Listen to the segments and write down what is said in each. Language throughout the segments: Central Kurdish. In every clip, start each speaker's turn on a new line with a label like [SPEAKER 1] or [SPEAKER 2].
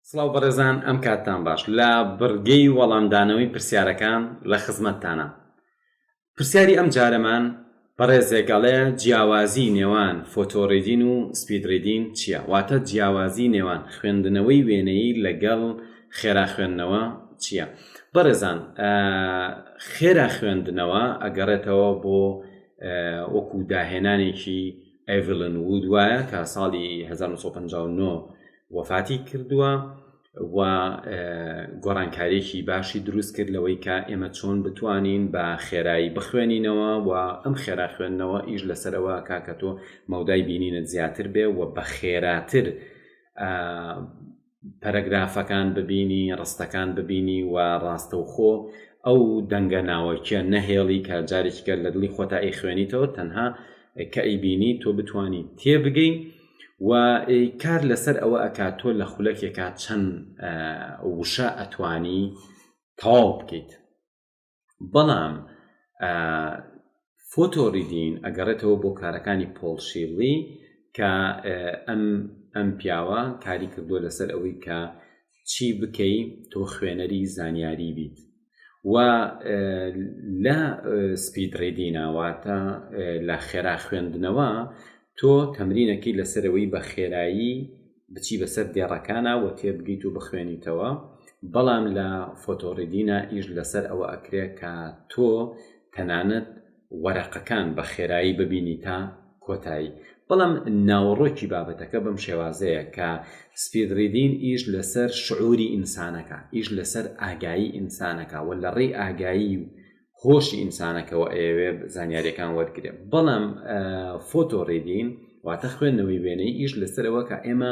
[SPEAKER 1] سڵاو بەڕێزان ئەم کاتتان باش لە بڕگەی وەڵامدانەوەی پرسیارەکان لە خزمەتتانە پرسیاری ئەم جارەمان بەڕێزێک ئەڵێ جیاوازی نێوان فۆتۆڕیدین و سپیدڕیدین چییە واتە جیاوازی نێوان خوێندنەوەی وێنەیی لەگەڵ خێرا خوێندنەوە چییە بەڕێزان خێرا خوێندنەوە ئەگەڕێتەوە بۆ وەکو داهێنانێکی ئەڤلن وود وایە کە ساڵی 1950 وەفاتی کردووە و گۆڕانکاریێکی باشی دروست کرد لەوەی کە ئێمە چۆن بتوانین بە خێرایی بخوێنینەوە و ئەم خێرا خوێندنەوە ئیش لەسەرەوە کاکە تۆ مەودای بینینت زیاتر بێ و بە خێراتر پەرەگرافەکان ببینی ڕستەکان ببینی و ڕاستەوخۆ ئەو دەنگە ناوەکیە نەهێڵی کە جارێکیکە لە دڵی خۆتە ئەی خوێنیتەوە تەنها کە ئەیبینی تۆ بتانی تێبگەین و کار لەسەر ئەوە ئەکات تۆ لە خولەکێکا چەند وشە ئەتوانی تەواو بکەیت بەڵام فۆتۆ ریدین ئەگەڕێتەوە بۆ کارەکانی پۆڵ شیڵی کە ئەم ئەم پیاوە کاری کردووە لەسەر ئەوەی کە چی بکەی تۆ خوێنەری زانیاری بیت و لە سپید ڕیدیناواتە لە خێرا خوێندنەوە تۆ تەمرینەکەی لەسەرەوەی بە خێرایی بچی بەسەر دێڕەکانە و تێبگەیت و بخوێنیتەوە بەڵام لە فۆتۆڕیدینا ئیش لەسەر ئەوە ئەکرێت کە تۆ تەنانەت وەرەقەکان بە خێرایی ببینی تا کۆتایی بەڵام ناوەڕۆکی بابەتەکە بەم شێوازەیە کە سپید ریدین ئیش لەسەر شعوری ئینسانەکە ئیش لەسەر ئاگایی ئینسانەکە و لە ڕێی ئاگایی و هۆشی ئینسانەکەەوە ئەیەوێ زانیاریەکان وەرگێ بەڵام فۆتۆ ڕێدین واتە خوێندنەوەی وێنەی ئیش لەسەرەوە کە ئێمە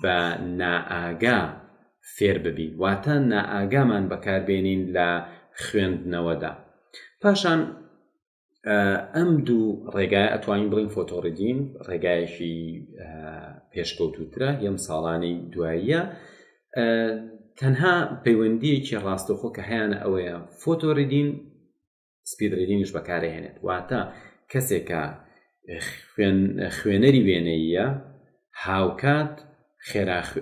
[SPEAKER 1] بە نائاگا فێر ببین واتە نائاگامان بەکار بێنین لە خوێندنەوەدا پاشان ئەم دوو ڕێگای ئەتوانین بڵین فۆتۆڕیدین ڕێگایەکی پێشکەوتوترە یەم ساڵانی دواییە تەنها پەیوەندیەکی ڕاستەخۆ کە هەیەە ئەوەیە فۆتۆریدین سپید ریدینگش بەکارهێنێت واتە کەسێکە خوێنەری وێنەیە هاوکات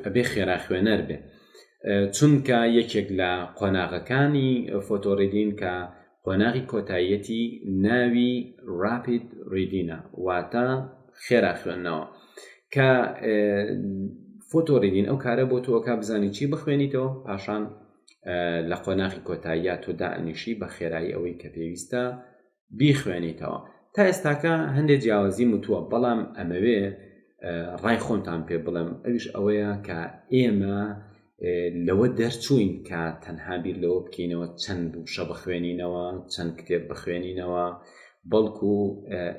[SPEAKER 1] ئەبێ خێرا خوێنەر بێت چونکە یەکێک لە قۆناغەکانی فۆتۆڕیدین کە قۆناغی کۆتاییەتی ناوی راپید ریدینە واتە خێرا خوێندنەوە کە فۆتۆڕیدین ئەو کارە بۆ تۆکە بزانی چی بخوێنیتەوە پاشان لە قۆناغی کۆتاییا تۆ دائەنیشی بە خێرایی ئەوەی کە پێویستە بیخوێنیتەوە تا ئێستاکە هەندێ جیاوازی وتووە بەڵام ئەمەوێ ڕای خۆمتان پێ بڵێم ئەوش ئەوەیە کە ئێمە لەوە دەرچووین کە تەنها بیر لەوە بکەینەوە چەند بووشە بخوێنینەوە چەند کتێب بخوێنینەوە بەڵکو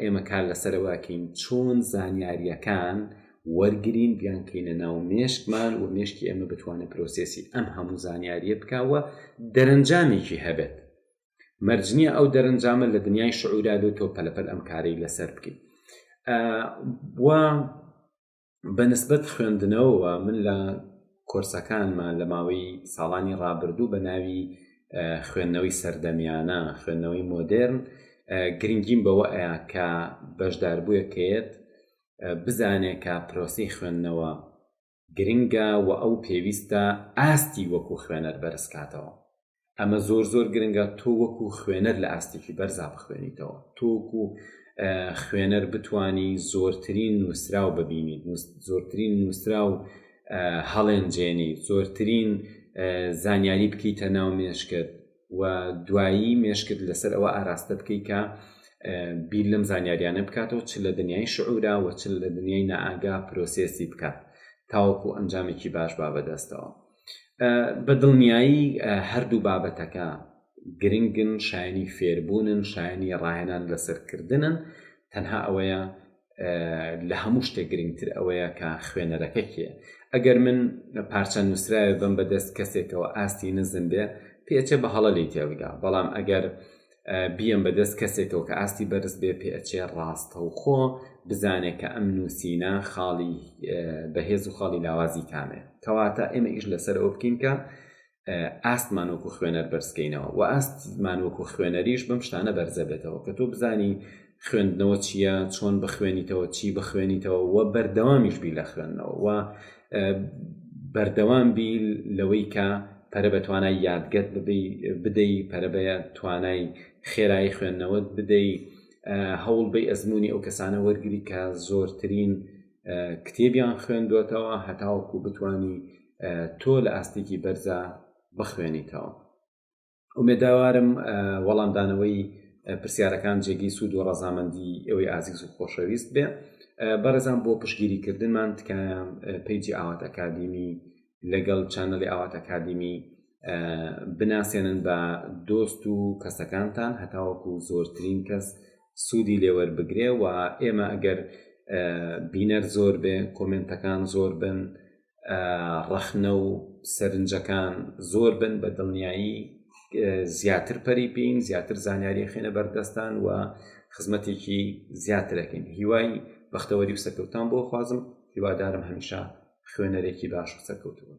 [SPEAKER 1] ئێمە کار لەسەرەوەکەین چۆن زانیاریەکان وەرگرین بیانکەینە ناو مێشکمان و مێشکی ئێمە بتوانێت پرۆسێسی ئەم هەموو زانیاریە بکا و دەرەنجامێکی هەبێت مەرجنیە ئەو دەرەنجامە لە دنیای شعورا بێت تۆ پەلەپەل ئەم کارەی لەسەر بکەیت وا بەنسبت خوێندنەوەوە من لە کۆرسەکانمان لە ماوەی ساڵانی ڕابردوو بە ناوی خوێندنەوەی سەردەمیانە خوێندنەوەی مۆدررن گرنگیم بەوە ئەیا کە بەشداربووەکەیت بزانێ کە پرۆسەی خوێندنەوە گرنگە و ئەو پێویستە ئاستی وەکو خوێنەر بەرز کاتەوە. ئەمە زۆر زۆر گرنگە تۆ وەکو خوێنەر لە ئاستێکی بەرزا بخوێنیتەوە. تۆ وەکو خوێنەر بتانی زۆرترین نووسراو ببینیت، زۆرترین نووسراو هەڵێنجێنی، زۆرترین زانیاری بکەیتە ناو مێشکت. و دوایی مێشکت لەسەر ئەوە ئاراستە بکەی کە بیر لەم زانیاریانە بکاتەوە چ لە دنیای شعورا و چ لە دنیای نائاگا پرۆسێسی بکات تاوەکو ئەنجامێکی باش با بەدەستەوە بە دڵنیایی هەردوو بابەتەکە گرنگن شایانی فێربوونن شایانی ڕاهێنان لەسەرکردنن تەنها ئەوەیە لە هەموو شتێک گرنگتر ئەوەیە کە خوێنەرەکە کێ ئەگەر من پارچە نووسراوێ بم بە دەست کەسێکەوە ئاستی نزم بێ پێچە بە هەڵە لی تێبگا بەڵام ئەگەر بیەم بە دەست کەسێکەوە کە ئاستی بەرز بێ پێچێ ڕاستە و خۆ بزانێت کە ئەم نووسینە خاڵی بەهێز و خاڵی لاوازی کامێ کەواتە ئێمە ئیش لەسەر ئەو بکەین کە ئاستمان وەکو خوێنەر بەرزکەینەوە و ئاستمان وەکو خوێنەریش بەم شتانە بەرزە بێتەوە کە تۆ بزانی خوێندنەوە چییە چۆن بخوێنیتەوە چی بخوێنیتەوە و بەردەوامیش بی لە خوێندنەوە و بەردەوام بی لەوەی کە پەرە بە توانای یادگەت بدەی پەرە بە توانای خێرایی خوێندنەوەت بدەی هەوڵ بەی ئەزمموی ئەو کەسانە وەرگری کە زۆرترین کتێبیان خوێندوەتەوە هەتاوەکو بتانی تۆ لە ئاستێکی بەرزە بخوێنیتەوە ئومێداوارم وەڵامدانەوەی پرسیارەکان جێگەی سوود و ڕەزامەندی ئەوەی ئازیز و خۆشەویست بێ بەڕێزان بۆ پشگیری کردنمان تکایە پیجی ئاوات ئەکادیمی لەگەڵ چەنەڵی ئاوات ئەکادیمی بناسێنن بە دۆست و کەسەکانتان هەتاوەکو زۆرترین کەس سودی لێ وەربگرێ وە ئێمە ئەگەر بینەر زۆر بێ کۆمێنتەکان زۆر بن ڕەخنە و سەرنجەکان زۆر بن بە دڵنیایی زیاتر پەری پێین زیاتر زانیاری خێنە بەردەستان و خزمەتێکی زیاترەکەین هیوای بەختەوەری و سەرکەوتان بۆ خوازم هیوادارم هەمیشە خوێنەرێکی باش و سەرکەوتوون